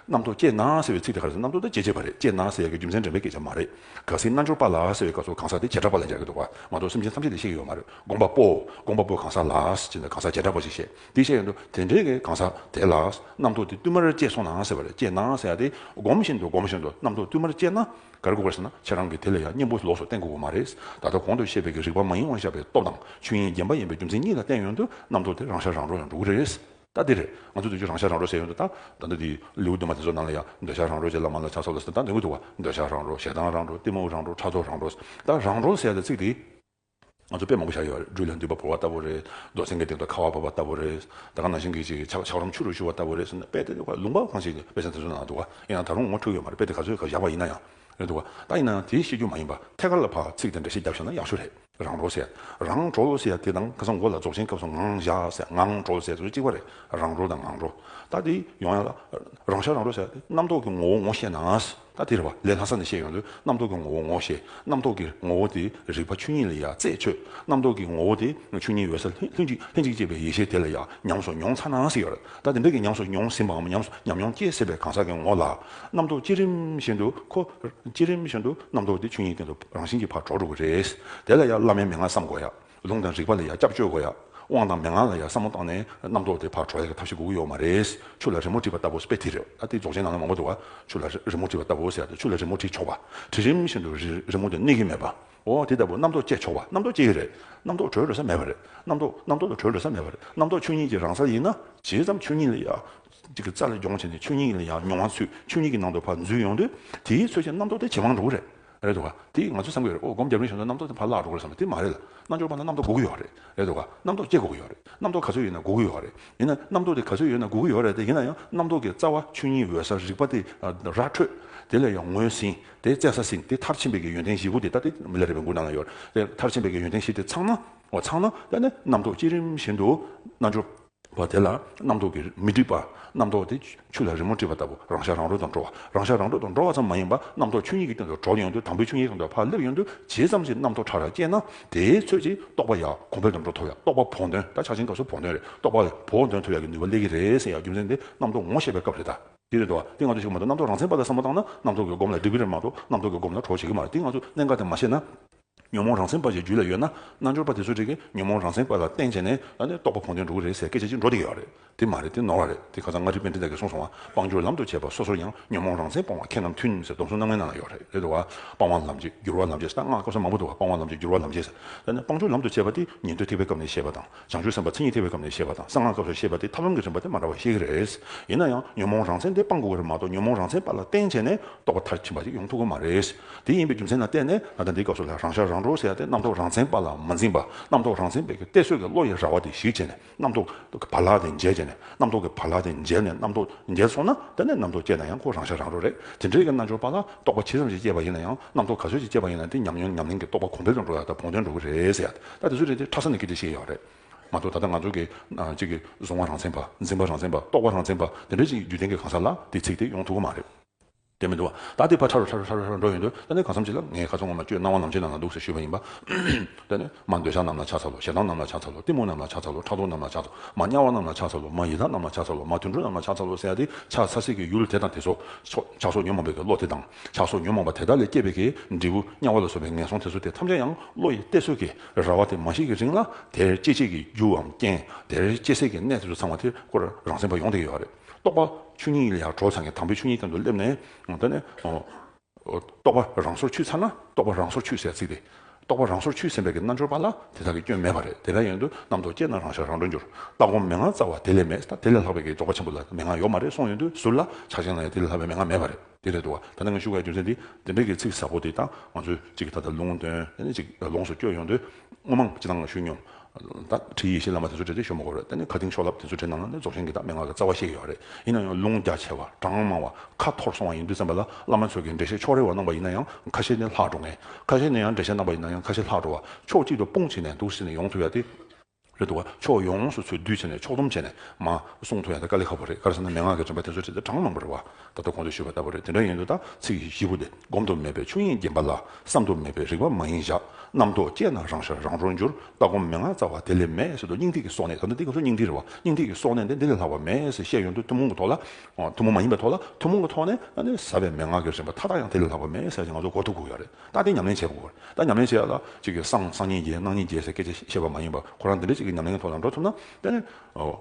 རྣམ་རྟོག་སྐྱེས་ན་ཟེར་བའི་ཚིག་དེ་ག་རེ་ཟེར་རྣམ་རྟོག་དེ་སྐྱེ་བྱེད་པ་རེད་སྐྱེས་ན་ཟེར་ཡ་གི་རྒྱུ་མཚན་དྲན་པའི་སྐད་ཆ་མ་རེད། ག་སིའི་རྣལ་འབྱོར་པ་ལགས་ཟེར་བའི་སྐབས་སུ་གང་ཟག་དེ་བྱེ་བྲག་པ་ལ་སྦྱར་གྱི་འདུག་པ་མ་གཏོགས་སེམས་ཅན་ཐམས་ཅད་དེ་ཤེས་ཀྱི་ཡོད་མ་རེད་དགོངས་པ་པོ། དགོངས་པ་པོ་གང་ཟག་ལགས་ཅེས་ན་གང་ཟག་བྱེ་བྲག་པ་ཞིག་བཤད་དེ་བཤད་ཡོད་འདུག་དེ་འདྲའི་གང་ཟག་དེ་ལ་རྣམ་རྟོག་དེ་བསྟུད་མར་སྐྱེས་སོང་ན་ཟེར་བ་རེད་སྐྱེས་ན་ཟེར་ཡ་དེ་སྒོམ་བཞིན་དུ་སྒོམ་བཞིན་དུ་རྣམ་རྟོག་བསྟུད་མར་སྐྱེས་ན་ག་རེ་དགོས་པ་ཞེ་ན་ཁྱེད་རང་གིས་དེ་ལ་ཡང་སྙིང་པོ་ལོགས་སུ་བསྟན་དགོས་པ་མ་རེད་ད་ལྟ་གོང་དུ་བཤད་པའི་གི་རིག་པ་མ་ཡིན་དབང་བཞག་པའི་སྟོབས་དང་ཆོས་དབྱིངས་བརྒྱན་པ་ཡིན་པའི་རྒྱུ་མཚན་གཉིས་ལ་བརྟེན་ཡོད་འདུག་རྣམ་རྟོག་དེ་རང་ཤར་རང་གྲོལ་ཡང་འགྲོ་གི་རེད། ད་འདིར་ང་ཚོས་འདོད་ཆགས་རང་ཤར་རང་རོལ་ཟེར་ཡོང་དུ་ད། ད་འདི་དེའི་ལེའུ་བདུན་པ་དེ་ཚོ་ནང་ལ་ཡང་འདོད་ཆགས་རང་རོལ་ཅེས་བླ་མ་ལ་ཕྱག་བསམ་ལ་ཟེར་ན་ད་འདི་ངོ་ཐུག་བ། འདོད་ཆགས་རང་རོལ་ཞེ་སྡང་རང་རོལ་གཏི་མུག་རང་རོལ་ཕྲག་དོག་རང་རོལ། ད་རང་རོལ་ཟེར་ཡ་ད་ཚིག་དེ། ང་ཚོ་དཔེ་མང་པོ་བཞག་ཡོད་རྒྱུད་ལ་འདུས་པ་བོར་བ་ལྟ་བུ་རེད། རྡོ་བསེང་གི་སྟེང་དུ་ཁ་བ་བབས་པ་ལྟ་བུ་རེད། ད་གང་ན་ཤིང་གི་ཅིག་ཆག་ཆག་རུམ་ཆུ་རུ་བཞུར་བ་ལྟ་བུ་རེད་ཟེར་ན་དཔེ་དེ་ལུང་པ་གང་ཞིག་གི་དཔེ་ཆ་དེ་ཚོའི་ནང་ལ་འདུག་བ། ཡིན་ཡང་ད་རུང་ངོ་འཕྲོད་ཡོད་མ་རེད་དཔེ་དེ་ག་ཚོད་ག་བཞག་པ་ཡིན་ན་ཡང། རེད་འདུག་བ། ད་ཡིན་ན་ཡང་དེའི་ཤེས་རྒྱུད་མ་ཡིན་པ་ཐད་ཀར་ལ་བར་ཚིག་དེ་འདྲ་ཞིག་བརྒྱབ་བཞག་ན་ཡག་ཤོས་རེད། རང་འགྲོ་ཟེར། རང་གྲོལ་ཟེར་དེ་དང་ཁ་སང་མགོ་ལ་རྫོགས་ཆེན་སྐབས་སུ་ངང་བཞག་ཟེར་ངང་གྲོལ་ཟེར་སོ་གཅིག་པ་རེད། རང་གྲོལ་དང་ངང་གྲོལ། ད་དེ་ཡོང་ཡ་ལ། རང་ཤར་རང་གྲོལ་ཟེར་ཡ་དེ་རྣམ་རྟོག་གི་ངོ་བོ་ངོ་ཤེས་ན། ད་དེ་རེད་པ་ལས་ལྷ་ས་ནས་བཤད་ཡོང་དུས་རྣམ་རྟོག་གི་ངོ་བོ་ངོ་ཤེས། རྣམ་རྟོག་གི་ངོ་བོ་དེ་རིག་པ་ཆོས་ཉིད་ལ་ཡ་རྩེ་ཆོད། རྣམ་རྟོག་གི་ངོ་བོ་དེ་ཆོས་ཉིད་འོད་གསལ་ལྷན་ཅིག་ལྷན་ཅིག་སྐྱེས་པའི་ཡེ་ཤེས་དེ་ལ་ཡ་ཉམས་སུ་མྱོང་ཚར་ན་ཟེར་ཡོད། ད་དེ་འདྲ་གི་ཉམས་སུ་མྱོང་ཟིན་པའམ་ཉམས་མྱོང་སྐྱེས་ཟིན་པའི་གང་ཟག་གི་ངོ་ལ། རྣམ་རྟོག་བསྐྱེད་རིམ་བཞིན་དུ་ཁོ། བསྐྱེད་རིམ་བཞིན་དུ་རྣམ་རྟོག་དེ་ཆོས་ཉིད་སྟེང་དུ་རང་བཞིན་གྱིས་ཕར་འགྲོ་འགྲོ་དགོས་རེད། དེ་ལ་ཡང་བླ་མའི་མན་ངག་བསམ་དགོས་ཡ། ལུང་དང་རིགས་པ་ལ་ཡང་སྐྱབས་བཅོལ་དགོས་ཡ། དབང་དང་མན་ངག་ལ་ཡང་བསམ་བློ་བཏང་ནས་རྣམ་རྟོག་དེ་ཕར་འགྲོ་ཡ་གི་ཐབས་ཤེས་དགོས་ཀྱི་ཡོད་མ་རེད། ཆུ་ལ་རི་མོ་བྲིས་པ་ལྟ་བུ་སྤེ་དྷི་རེད་ད་དེ་རྫོགས་ཆེན་ནང་ལ་མང་པོ་འདུག་ཨ། ཆུ་ལ་རི་མོ་བྲིས་པ་ལྟ་བུ་ཟེར་ཡ་དེ་ཆུ་ལ་རི་མོ་བྲིས་ཆོག་པ། བྲིས་རིམ་བཞིན་དུ་རི་མོ་དེ་གནས་ཀྱི་མེད་པ། འོ་དེ་ལྟ་བུ་རྣམ་རྟོག་བསྐྱེད་ཆོག་པ་རྣམ་རྟོག་བསྐྱེད་ཀྱི་རེད། རྣམ་རྟོག་གྲོལ་ལོས་ས་མེད་པ་རེད། རྣམ་རྟོག་རྣམ་རྟོག་ལ་གྲོལ་ལོས་ས་མེད་པ་རེད་རྣམ་རྟོག་ཆོས་ཉིད་ཀྱི་རང་ས་ཡིན་ན། བྱས་ཙམ་ཆོས་ཉིད་ལ་ཡ། གཅིག་གི་རྩ་ལས་སྦྱོང་བྱས་ནས་ཆོས་ཉིད་ལ་ཡང་མྱོང་བ་ཚུལ་ཆོས་ཉིད་ཀྱི་ནང་དུ་ཕར་འཛུལ་ཡོང་དུས་དེའི་ཚུལ་ཅན་རྣམ་རྟོག་དེ་ཇེ་མང་རུང་རེད། རེད་འདུག་ག་དེ་ང་ཚོས་བསམ་གི་རེད་ཨོ་སྒོམ་རྒྱབ་རིང་བྱས་ན་རྣམ་རྟོག་དེ་ཕར་བརླག་འགྲོ་གི་རེད་བསམ་པ་དེ་མ་རེད་ལ་རྣལ་འབྱོར་པ་ན་རྣམ་རྟོག་འགུག་གི་ཡོད་རེད། རེད་འདུག་ག་རྣམ་རྟོག་སྐྱེ་དགོས་ཀྱི་ཡོད་རེད་རྣམ་རྟོག་ག་ཚོད་ཡོད་ན་འགུག་གི་ཡོད་རེད། ཡིན་ན་རྣམ་རྟོག་དེ་ག་ཚོད་ཡོད་ན་འགུག་གི་ཡོད་རེད་དེ་ཡིན་ན་ཡང་རྣམ་རྟོག་གི་རྩ་བ་ཆོས་ཉིད་འོད་གསལ་རིག་པ་དེ་ར་འཕྲོད་དེ་ལས་ཡང་ངོས་ཟིན་དེ་བཙལ་ས་ཟིན་དེ་མཐར་ཕྱིན་པའི་གི་ཡོན་ཏན་བཞི་དགུ་དེ་ལྟ་དེ་མི་ལ་རེ་བའི་མགུར་རྣམས་ལ་ཡོད་རེད་མཐར་ཕྱིན་པའི་གི་ཡོན་ཏན་བཞི་དེ་ཚང་ན། ཚང་ན། ད་ནི་རྣམ་རྟོག་སྐྱེ་རིམ་བཞིན་དུ་རྣལ་འབྱོར། བ་དེ་ལ་རྣམ་རྟོག་གིས་མི་སྒྲིབ་པ། རྣམ་རྟོག་དེ་ཆུ་ལ་རི་མོ་དཀྲིས་པ་ལྟ་བུ་རང་ཤར་རང་གྲོལ་དུ་འགྲོ་བ། རང་ཤར་རང་གྲོལ་དུ་འགྲོ་བ་ཙམ་མ་ཡིན་པར་རྣམ་རྟོག་ཆོས་ཉིད་ཀྱི་སྟེང་དུ་གྲོལ་ཡོང་དུས་དང་པོའི་ཆོས་ཉིད་ཀྱི་དོན་འཕགས་ལེབ་ཡོང་དུས་བྱེད་ཙམ་གྱི་རྣམ་རྟོག་ཕྲ་རགས་སྐྱེས་ན། དེའི་ཚོད་ཀྱིས་རྟོག་པ་ཡང་གོང་འཕེལ་དུ་འགྲོ་ཐུབ་ཡང་རྟོག་པ་བོགས་འདོན་ད་ཆ་ཕྱིན་སྐབས་སུ་བོགས་འདོན་རེད་རྟོག་པ་བོགས་འདོན་ཐུབ་ཡག་གི་ནུས་པ་སླེབས་ཀྱི་རེད་ཟེར་ཡག་རྒྱུ་མཚན་དེ་རྣམ་རྟོག་ངོ་ཤེས་པའི་སྐབས་རེད་ད། དེ་རེད་འདུག་བ་དེ་ང་ཚོས་ཞུགས་མ་ཐུབ་རྣམ་རྟོག་རང་མཚན་པ་ལ་བསམ་བློ་བཏང་ན་རྣམ་རྟོག་གི་སྒོམ་ལ་སྒྲིབ་གི་རེད་མ་གཏོགས་རྣམ་རྟོག་གི་སྒོམ་ལ་གྲོལ་བྱེད་ཀྱི་མ་རེད་དེ་ང་ཚོས་གནད་འགག་དེ་མ་ཤེས་ན། ཉོན་མོངས་རང་སེམས་དཔའ་ཞིག་རྒྱུད་ལ་ཡོད་ན་རྣལ་འབྱོར་པ་དེ་ཚོས་དྲིས་ཀི་ཉོན་མོངས་རང་སེམས་དཔའ་ལ་བསྟེན་བྱས་ནས་ད་ནི་རྟོགས་པ་གོང་དོན་འགྲོ་གི་རེད་ཟེར་སྐད་ཆ་གཅིག་འགྲོ་བསྡད་ཀྱི་ཡོད་རེད་དེ་མ་རེད་དེ་ནོར་བ་རེད་དེ་ཁ་ཚང་སྔ་དྲིས་དཔེ་འདི་དག་གི་གསུངས་སོང་བ་དཔང་སྒྱུར་ལམ་དུ་བྱས་པ་སོ་སོར་ཡང་ཉོན་མོངས་རང་སེམས་སྤོང་བ་ཁྱེད་རྣམས་མཐུན་ཟེར་སྡོམ་གསུམ་རྣམ་ལྔའི་ནང་ན་ཡོད་རེད་དོ། སྤང་བ་ལམ་འབྱེད་སྒྱུར་བ་ལམ་འབྱེད་ཟེར་ན་སྔགས་སྐབས་སུ་མང་པོ་འདུག་བ་སྤང་བ་ལམ་འབྱེད་སྒྱུར་བ་ལམ་འབྱེད་ཟེར། ད་ནི་དཔང་སྒྱུར་ལམ་དུ་བྱས་པ་དེ་ཉན་ཐོས་ཐེག་པའི་སྐབས་ནས་བཤད་པ་དང། བྱང་ཆུབ་སེམས་དཔའ་མཚན་ཉིད་ཐེག་པའི་སྐབས་ནས་ཤེས་པ་དང་གསང་སྔགས་སྐབས་སུ་ཤེས་པ་དེ་ཐབས་ལམ་གྱི་རིམ་པ་དེ་མ་འདྲ་བ་ཞིག་རེད། ཡིན་ན་ཡང་ཉོན་མོངས་རང་མཚན་དེ་སྤང་དགོས་པ་རེད་མ་གཏོགས་ཉོན་མོངས་རང་མཚན་པ་ལ་བརྟེན་བྱས་ནས་རྟོགས་པ་མཐར་ཕྱིན་པ་ཞིག་ཡོང་ཐུབ་གི་མ་རེད། དེ་ཡིན་པའི་རྒྱུ་མཚན་ལ་བརྟེན་ནས་ད་ལྟ་འདིའི་སྐབས་སུ་ལ་རང་ཤར་རང་གྲོལ་ཟེར་ཡ་དེ་རྣམ་རྟོག་རང་མཚན་པ་ལ་མ་འཛིན་པ་རྣམ་རྟོག་རང་མཚན་པའི་གི་གཏད་སོས་ཀྱི་བློ་ཡི་ར་བ་དེ་གཞིག་བྱས་ནས་རྣམ་རྟོག་གི་བར་ལག་དེ་འཇལ་བྱས་ནས་རྣམ་རྟོག་གི་བར་ལག་དེ་འཇལ་ནས་རྣམ་རྟོག་འཇལ་སོང་ན་དེ་ནས་རྣམ་རྟོག་སྐྱེས་ན་ཡང་ཁོ་རང་ཤར་རང་གྲོལ་རེད་དེ་འདྲའི་གི་རྣལ་འབྱོར་པ་ལ་རྟོགས་པ་ཇི་ཙམ་ཞིག་སྐྱེས་པ་ཡིན་ན་ཡང་རྣམ་རྟོག་ག་ཚོད་ཅིག་སྐྱེས་པ་ཡིན་ན་དེ་ཉམས་མྱོང་ཉམས་ལེན་གྱི་རྟོགས་པ་གོང་འཕེལ་དུ་འགྲོ་ཡ་དང་བོང་སྟོན་འགྲོ་གི་རེད་ཟེར་ཡ། ད་དེ་ཚོ་རེད་དེ་ཁྲ་ས་ནས་ཀི་དེ་བཤད་ཡོད་རེད་མ་གཏོགས་ད་ལྟ་ང་ཚོ་གི་གཅིག་གི་བཟུང་བ་རང་བཙན་པ་འཛིན་པ་རང་བཙན་པ་ལྟོགས་པ་རང་བཙན་པ་དེ་འདྲ་ཅིག་རྒྱུད་ལྡན་གི་གང་ཟག་ལ་དེ་ཚིག་དེ་ཡོང་ཐུབ་གི་མ་རེད། དེ་མི་འདུག་བ་ད་དེ་ཕར་ཁྲ་རུ་ཁྲ་རུ་ཁྲ་རུ་ཁྲ་རུ་འགྲོ་ཡོང་དུས་ད་ནི་གང་བསམ་གྱི་ལ་ངའི་ཁ་ཚོན་ངོ་མ་ཁྱོད་སྣང་བ་ལམ་ཆེན་རྣམས་ལ་འདུག་ཟེར་ཞུས་པ་ཡིན་པ་ད་ནི་མ་འདོད་ཆགས་རྣམས་ལ་ཆགས་ཚར་ལོ་ཞེ་སྡང་རྣམས་ལ་ཆགས་ཚར་ལོ་གཏི་མུག་རྣམས་ལ་ཆགས་ཚར་ལོ་ཕྲག་དོག་རྣམས་ལ་ཆགས་ཚར་མ་དམྱལ་བ་རྣམས་ལ་ཆགས་ཚར་ལོ་མ་ཡི་དྭགས་རྣམས་ལ་ཆགས་ཚར་ལོ་མ་དུད་འགྲོ་རྣམས་ལ་ཆགས་ཚར་ལོ་ཟེར་ཡ་དེ་ཆགས་ཚར་སྲིད་ཀྱི་ཡུལ་དེ་དང་དེ་ཚོ་ཆགས་སོ་ཉོན་མོངས་པའི་གི་བློ་དེ་དང། ཆགས་སོགས་ཉོན་མོངས་པ་དེ་དག་ལས་སྐྱེས་པའི་ཀྱི་འབྲས་བུ་དམྱལ་བ་ལ་སོགས་པའི་ངན་སོང་དེ་ཚོ་དེ་ཐམས་ཅད་ཡང་བློ་ཡི་གཏད་ཚོད་ཀྱི་ར་བ་དེ་མ་ཞིག་གི་རིང་ལ་དེར་སྐྱེ་མཆེད་ཀྱི་རྒྱུའམ་རྐྱེན་དེར་སྐྱེ་སའི་ཀྱི་གནས་དེ་ཚོ་ཚང་བ་དེ་ཀོ་རང་སེམས་པ་ཡོངས་དེ་ཡོད་རེད་རྟོགས་པ་ཆུ་གཉིས་ལ་ཡང་གྲོ་ཚང་གི་དང་པོའི་ཆུ་གཉིས་སྟེང་དུ་སླེབས་ནས་ད་ནི་རྟོགས་པ་རང་སོར་ཆུད་ཚར་ན་རྟོགས་པ་རང་སོར་ཆུད་ཟེར་ཚིག་དེ་རྟོགས་པ་རང་སོར་ཆུད་ཟིན་པའི་ཀྱི་རྣལ་འབྱོར་པ་ལ་དེ་དག་གི་སྐྱོན་མེད་པ་རེད་དེ་འདྲ་ཡིན་དུས་རྣམ་རྟོག་སྐྱེས་ན་རང་ཤར་རང་གྲོལ་འགྱུར་ལྟ་སྒོམ་མན་ངག་རྩ་བ་དེ་ལས་མེད་ད་དེ་ལས་ལྷག་པའི་ཀྱི་རྫོགས་པ་ཆེན་པོ་ལ་མན་ངག་ཡོད་མ་རེད་སོང་ཡོད་དུས་ཟུར་ལ་ཆགས་ཅན་ལ་ཡང་དེ་ལས་ལྷག་པའི་མན་ངག་མེད་པ་རེད། དེ་རེད་དོ། ད་ནི་ང་ཞུ་བའི་རྒྱུ་མཚན་འདི། དེ་འབྲེལ་གྱི་ཚིག་ཟབ་པོ་དེ་དག་ང་ཚོས་ཅིག་ད་ལྟ་ལུང་སྟོན་ཅིག་ལོངས་སུ་སྤྱོད་ཡོང་དུས། དངོས་མང་སྤྱི་དང་ལ་ཞུས་སྙོམས། ད་ཁྲི་ཡེ་ཤེས་བླ་མ་དེ་ཚོ་བྲེལ་ཏེ་ཤོ་མོ་སྒོར་རེད་ད་ནི་ཁ་དིང་ཤོ་ལབ་དེ་ཚོའི་གྲས་ནང་ན་ནི་རྫོགས་ཆེན་གྱི་དག་མེད་ངག་གི་རྩ་བ་བཤད་ཀྱི་ཡོད་རེད་ཡིན་ན་ཡང་ལུང་རྒྱ་ཆེ་བ་གྲངས་མང་བ་ཁ་འཐོར་སོང་བ་ཡིན་དུས་བཙན་པ་ལ་བླ་མ་ཚོས་ཀྱི་འགྲེལ་བཤད་ཕྱོགས་རེ་བ་གནང་པ་ཡིན་ན་ཡང་ཁ་ཤས་ནི་ལྷག་འགྲོ་ངེས་ཁ་ཤས་ནི་ཡང་འགྲེལ་བཤད་གནང་པ་ཡིན་ན་ཡང་ཁ་ཤས་ལྷག་འགྲོ་བ་ཕྱོགས་གཅིག་ཏུ་སྤུངས་བྱས་ནས་འདུག་ཟེར་ནས་ཡོང་ཐུབ་ཡ་དེ། རེད་འདུག་ག་ཕྱོགས་ཡོངས་སུ་འཚོལ་སྡུད་བྱས་ནས་ཕྱོགས་སྡོམ་བྱས་ནས་མ་གསུངས་ཐུག་ཡང་ད་ཀ་ལེ་ཁ་བོ་རེད་ཀར་སེམས་ན་མན་ངག་གི་དྲན་པ་དེ་ཚོ་དེ་ཚོ་གྲངས་མང་པོ་རེད་བ་ད་ལྟ་གོང་དུ་ཞུས་པ་ལྟ་བུ་རེད་དེ་འདྲ་ཡིན་དུས་ད་ཚིག་བཞི་པོ་དེ་བསྒོམ་དུ་མེད་པའི་ཆོས་དབྱིངས་བརྒྱན་པ་ལ་བསམ་དུ་མེད་པའི་རིག་པ་མ་ཡིན་བཞག་རྣམ་རྟོག་སྐྱེས་ན་རང་ཤར་རང་རོ་འགྱུར་ལྟ་སྒོམ་མན་ངག་རྩ་བ་དེ་ལས་མེད་ཟེར་དུས་སྙིང་ཐིག་གི་སོག་ནས་ད་ལྟ་འདི་སྐབས་སུ་སྙིང་ཐིག་རེད་བ་སྙིང་ཐིག་གི་སོག་ནས་འདི་འདི་ལས་ལྷག་པ་མེད་ཟེར་བཤད་ཡོང་དུས་ཐུན་མོང་གི་ཐོག་ལ་ཐུན་མོང་མ་ཡིན་པའི་ཐོག་ལ་ཐུན་མོང་གི་ཐོག་ནས་ཟབ་པའི་མན་ངག་གི་རིམ་པ་མཐའ་དག་ཡང་དེ་ལས་ལྷག་པ་མེད་ཟེར་ཡང་ང་ཚོ་གོ་ཐུབ་དགོས་ཡག་རེད་རྟགས་དེ་ཉམས་ལེན་བྱེད་དགོས། རྟགས་ཉམས་ལེན་བྱེད་ཡག་ལ། གཅིག་གིས་སང་སང་ཉིན་བརྒྱད་གནངས་ཉིན་བརྒྱད་ཟེར་སྐད་ཆ་བཤད་པ་མ་ཡིན་པར་ཁོ་རང་འདི་འདྲའི་གཅིག་གི་ཉམས་ལེན་གྱི་ཐོག་ལ་འགྲོ་ཐུབ་ན་དཔེར་ན།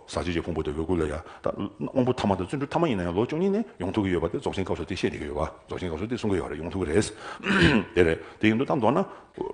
ཟག་བཅས་ཀྱི་ཕུང་པོ་དེ་འོད་སྐུར་ལས་ཡར་དབང་པོ་ཐ་མ་དང་བརྩོན་འགྲུས་ཐ་མ་ཡིན་ན་ཡང་ལོ་བཅུ་གཉིས་ནས་ཡོང་ཐུབ་ཀྱི་ཡོད་པ་དེ་རྫོགས་ཆེན་སྐབས་སུ་དེ་བཤད་བསྡད་ཀྱི་ཡོད་པ་རྫོགས་ཆེན་སྐབས་སུ་དེ་གསུང་གི་ཡོད་རེད་ཡོང་ཐུབ་ཀྱི་རེད། དེ་རེད་དེ་ཡིན་དུས་ད་མདོར་ན།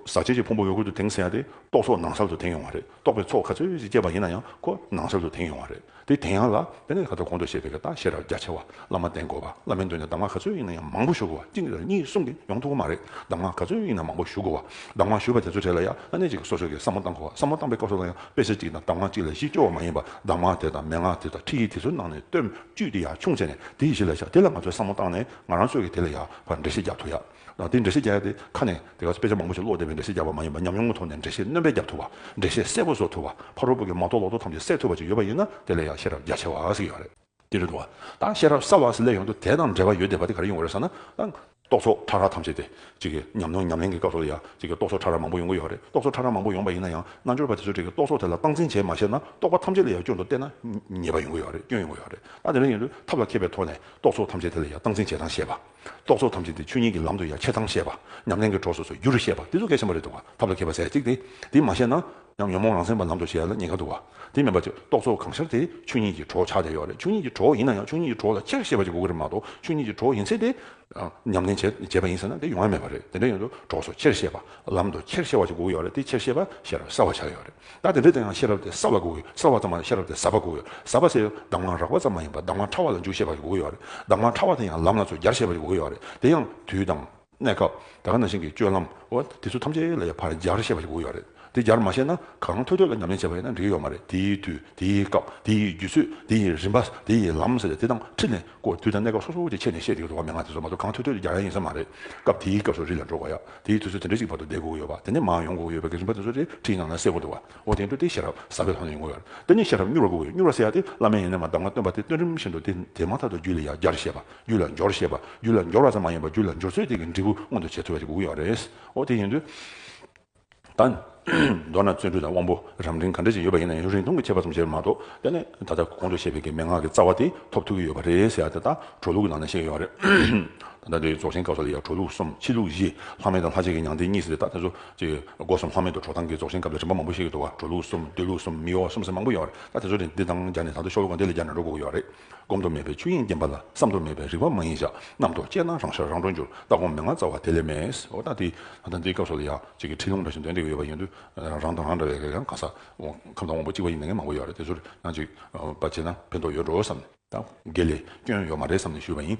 ཟག་བཅས་ཀྱི་ཕུང་པོ་འོད་སྐུར་དུ་དེངས་ཟེར་ཡ་དེ་རྟོག་ཚོགས་ནང་གསར་དུ་དེངས་ཡོང་བ་རེད་རྟོག་པའི་ཚོགས་ག་ཚོད་ཅིག་སྐྱེས་པ་ཡིན་ན་ཡང་ཁོ་ནང་གསར་དུ་དེངས་ཡོང་བ་རེད། དེ་དེང་ཡང་ལ་དཔེ་ནས་ཁ་ཐོར་གོང་དུ་བཤད་པའི་རྟགས་བཤད་རབས་རྒྱ་ཆེ་བ་བླ་མ་བསྟེན་དགོས་པ་བླ་མའི་མདུན་ནས་གདམས་ངག་ག་ཚོད་ཡིན་ན་ཡང་མང་པོ་ཞུ་དགོས་བ་གཅིག་རེ་གཉིས་གསུམ་གིས་ཡོང་ཐུབ་ཀི་མ་རེད་གདམས་ངག་ག་ཚོད་ཡིན་ན་མང་པོ་ཞུ་དགོས་བ་གདམས་ངག་ཞུས་པ་དེ་ཚོའི་གྲས་ལ་ཡང་ལྷ་གནས་གཅིག་གི་སོ་སོ་གིས་བསམ་བློ་བཏང་དགོས་བ་བསམ་བློ་བཏང་པའི་སྐབས་སུ་ལ་ཡང་དཔེ་ཆ་གཅིག་དང་གདམས་ངག་གཅིག་ལས་གཞི་སྐྱོ་བ་མ་ཡིན་པར་གདམས་ངག་དེ་དང་མན་ངག་དེ་དང་ཁྲིད་ཡིག་དེ་ཚོའི་ནང་ནས་སྟོན་བཅུད་དེ་ཡང་ཆུང་ཚད་ནས་དེ་ཡི་གཞི་ལ་བཞག་དེ་ལ་ང་ཚོས་བསམ་བློ་བཏང་ནས་ང་རང་ཚོད་ཀྱིས་དེ་ལ་ཡང་བར་འགྲེལ་བཤད་རྒྱག་ཐུབ་ཡག་ལ་དེའི་འགྲེལ་བཤད་རྒྱས་ཏེ་ཁ་ནས་དེ་ག་ཚོད་དཔེ་ཆ་མང་པོ་ཞིག་ཀློག་བསྡད་པའི་འགྲེལ་བཤད་རྒྱག་པ་མ་ཡིན་པར་ཉམས་མྱོང་གི་ཐོག་ནས་འགྲེལ་བཤད་རྣོན་པས་རྒྱག་ཐུབ་པ། འགྲེལ་བཤད་གསལ་པོ་བཟོ་ཐུབ་པ། ཕ་རོལ་པོ་གི་མ་གཏོགས་ལོག་རྟོག་ཐམས་ཅད་སེལ་ཐུབ་པ་ཅིག་ཡོད་པ་ཡིན་ན་དེ་ལས་ཡང་ཤེས་རབ་རྒྱ་ཆེ་བ་ཞིག་ཡོད་རེད། དེ་རེད་འདུག་ད་ཤེས་རབ་གསར་བ་ཞིག་སླེབས་ཡོང་དུས་དེ་དང་འབྲེལ་བ་ཡོད་བསྡད་པ་དེ་ག་རེ་ཡོང་གི་རེད་བསམ་ན། ད། རྟོག་ཚོགས་ཕྲ་རགས་ཐམས་ཅད་དེ། གཅིག་གིས་ཉམས་མྱོང་ཉམས་ལེན་གྱི་སྐབས་སུ་ཡང་གཅིག་གིས་རྟོག་ཚོགས་ཕྲ་རགས་མང་པོ་ཡོང་གི་ཡོད་རེད་རྟོག་ཚོགས་ཕྲ་རགས་མང་པོ་ཡོང་པ་ཡིན་ན་ཡང་རྣལ་འབྱོར་པ་དེ་ཚོས་གཅིག་གིས་རྟོག་ཚོགས་དེ་ལ་སྟངས་འཛིན་བྱས་མ་ཤེས་ན་རྟོག་པ་ཐམས་ཅད་ལས་ཡང་སྐྱོན་དུ་བལྟས་ན་ཉེས་པ་ཡོང་གི་ཡོད་རེད་སྐྱོན་ཡོང་གི་ཡོད་རེད་ད་དེ་འདྲ་ཡིན་དུས་ཐབས་ལ་མཁས་པའི་ཐོག་ནས་རྟོག་ཚོགས་ཐམས་ཅད་དེ་ལ་ཡང་སྟངས་འཛིན་བྱེད་སྟངས་ཤེས་པ། རྟོག་ཚོགས་ཐམས་ཅད་དེ་ཆོས་ཉིད་ཀྱི་ལམ་དུ་ཡང་ཁྱེད་དང་བཤད་པ། ཉམས་ལེན་གྱི་གྲོགས་སོ་སོའི་རྒྱུ་རུ་བཤད་པ་དེ་ཚོ་གལ་ཆེན་པོ་རེད་འདུག་བ། ཐབས་ལ་མཁས་པ་ཟད་ཅིག་སྟེ། དེ་མ་བཤད་ན། ཡང་ཉོན་མོངས་རང་མཚན་པ་ལམ་དུ་བྱེད་ལ་ཉེ་ཁ་འདུག་བ། དེ་མིན་པ། རྟོག་ཚོགས་གང་ཤར་དེ་ཆོས་ཉིད་ཀྱི་གྲོགས་ཆགས་བསྡད་ཡོད་རེད་ཆོས་ཉིད་ཀྱི་གྲོགས་ཡིན་ན་ཡང་ཆོས་ཉིད་ཀྱི་གྲོགས་ལ་ཁྱེད་ཤེས་པ་ཅིག་དགོས་ཀྱི་རེད་མ་གཏོགས་ཆོས་ཉིད་ཀྱི་གྲོགས་ཡིན་ཚེ་དེ། ཉམས་ལེན་བྱེད་བྱེད་པ་ཡིན་ཟེར་ན་དེ་ཡོང་ཡ་མེད་པ་རེད་དེ་འདྲ་ཡོད་དུ་གྲོགས་སོ་ཁྱེར་ཤེས་པ། ལམ་དུ་ཁྱེར་ཤེས་བ་ཅིག་དགོས་ཀྱི་ཡོད་རེད་དེ་ཁྱེར་ཤེས་པ་ཤེས་རབ་གསར་བ་ཆགས་ཡོད་རེད། བདག་དེ་འདྲའི་དོན་ཡང་ཤེས་རབ་དེ་གསལ་བ་དགོས་ཡོད་གསལ་བ་ཙམ་མ་ཡིན་ཤེས་རབ་དེ་ཟབ་པ་དགོས་ཡོད་ཟབ་པ་ཟེར་ཡང་གདམས་ངག་རགས་པ་ཙམ་མ་ཡིན་པར་གདམས་ངག་ཕྲ་བ་ལ་འཇུག་ཤེས་པ་ཞིག་དགོས་ཡོད་རེད་གདམས་ངག་ཕྲ་བ་དེ་ཡང་ལམ་ལ་ཚོད་རྒྱར་ཤེས་པ་ཞིག་དགོས་ཡོད་རེད་དེ་ཡང་དུས་དང། གནས་སྐབས། ད་ག་ན་ཞིང་གི་སྤྱོད་ལམ། འོ་དེ་ཚོ་ཐམས་ཅད་ལ་ཡང་ཕར་རྒྱར་ཤེས་པ་ཞིག་དགོས་ཡོད་རེད་དེ་རྒྱར་མ་ཤེས་ན་གང་ཐོས་ཐོས་ལ་ཉམས་ལེན་བྱས་པ་ཡིན་ན་འགྲིག་གི་ཡོད་མ་རེད་དེའི་དུས་དེའི་སྐབས་དེའི་རྒྱུ་ཚོད་དེའི་རིམ་པ་དེའི་ལམ་ཟེར་ཡང་དེ་དང་ཁྲིད་ནས་སྐོར་དུས་དང་གནས་སྐབས་སོ་སོ་ཀྱི་ཆེད་ནས་བཤད་ཀྱི་འགྲོ་བ་མན་ངག་དེ་ཚོ་མ་གཏོགས་གང་ཐོས་ཐོས་ཀྱི་རྒྱག་ཡ་ཡིན་ས་མ་རེད། སྐབས་དེའི་སྐབས་སུ་རི་ལ་འགྲོ་དགོས་ཡ། དེའི་དུས་ཚོད་དེ་འདྲ་ཞིག་བར་དུ་བསྡད་དགོས་ཀྱི་ཡོད་པ་དེ་ནས་མར་ཡོང་དགོས་ཀྱི་ཡོད་པའི་གལ་ཆེན་པ་དེ་ཚོ་རེ་ཁྲིའི་ནང་ན་གསལ་དགོས་འདུག་བ། འོ་དེའི་འཕྲོ་དེའི་ཤེས་རབ་ཟབ་པའི་ཐོག་ནས་ཡོང་དགོས་ཡ། དེ་ནས་ཤེས་རབ་མྱུར་བར་དགོས་ཀྱི་མྱུར་བར་གསལ་ཡ་དེ་བླ་མའི་ཡོན་ཏན་ལ་གདམས་ངག་སྟོན་པ་དེ་སྟོན་རིམ་བཞིན་དུ་དེ་དེ་མ་ཐག་ཏུ་རྒྱུད་ལ་ཡ་སྦྱར་ཤེས་པ། རྒྱུད་ལ་འབྱོར་ཤེས་པ། རྒྱུད་ལ་འབྱོར་བ་ཙམ་མ་ཡིན་པར་རྒྱུད་ལ་འབྱོར་ཚོད་དེ་གི་འབྲས་བུ་མངོན་དུ་བྱེད་ཐུབ་པ་ཞིག་དགོས་ཀྱི་ཡོད་རེད། འོ་དེ་ཡིན་དུས། ད། མདོར་ན་བརྩོན་འགྲུས་དང་དབང་པོ་རམ་རིང་ག་འདྲ་ཞིག་ཡོད་པ་ཡིན་ན་ཡང་རིང་ཐུང་གི་ཁྱད་པར་ཙམ་བྱས་པ་མ་གཏོགས་དེ་ནི་ད་ལྟ་གོང་དུ་བཤད་པའི་གི་མན་ངག་གི་རྩ་བ་དེ་ཐོབ་ཐུབ་ཀྱི་ཡོད་པ་རེད་ཟེར་ཡ་དེ་དག་གྲོལ་ལུགས་ཀྱི་ནང་ནས་བཤད་ཀྱི་ཡོད་པ་རེད། ད་ལྟ་འདིར་རྫོགས་ཆེན་སྐབས་སོགས་ལ་ཡང་གྲོལ་ལུགས་གསུམ་ཕྱི་ལུགས་བཞི་ལྷག་མེད་དང་ལྷག་ཆད་ཀྱི་མྱང་འདས་གཉིས་ཟེར་དེ་དག་དེ་ཚོ་གཅིག། སྒོ་གསུམ་ལྷག་མེད་དུ་གྲོགས་དང་གི་རྫོགས་ཆེན་སྐབས་ལ་རིམ་པ་མང་པོ་བཤད་ཀྱི་འདུག་བ་གྲོལ་ལུགས་གསུམ་སྡོད་ལུགས་གསུམ་མིག་ཡོར་བ་གསུམ་ཟེར་མང་པོ་ཡོད་པ་རེད་ད་དེ་ཚོ་དེ་དང་སྦྱར་ནས་ད་དུ་ཤོག་ལུགས་གང་དེ་ལས་སྦྱར་ནས་འགྲོ་དགོས་ཀྱི་ཡོད་པ་རེད། བསྒོམ་དུ་མེད་པའི་ཆོས་དབྱིངས་བརྟན་པ་ལ་བསམ་དུ་མེད་པའི་རིག་པ་མ་ཡིན་ཞག་རྣམས་རྡོ་རྗེ་སྣང་རང་ཤར་རང་གྲོལ་འགྱུར་ལྟ་སྒོམ་མི་མངའ་རྩ་བ་དེ་ལས་མེད། ཨོ་ད་དེ། ད་ལྟ་འདིའི་སྐབས་སུ་ལ་ཡང་གཅིག་གི་ཁྲིད་ལུང་འདྲ་བཞིན་འདོན་འདེགས་ཡོད་པ་ཡིན་དུས། རང་དང་རང་འདྲ་བའི་གང་ཟག་ཁམས་དང་དབང་པོ་གཅིག་པ་ཡིན་ན་ངས་མང་པོ་ཡོད་རེད་དེ་ཚོར་ཡང་གཅིག་པ་བྱས་ན་ཕན་ཐོགས་ཡོད་འགྲོ་བསམ། དགེ་ལས་སྐྱོན་ཡོད་མ་རེད་བསམ་ནས་ཞུས་པ་ཡིན།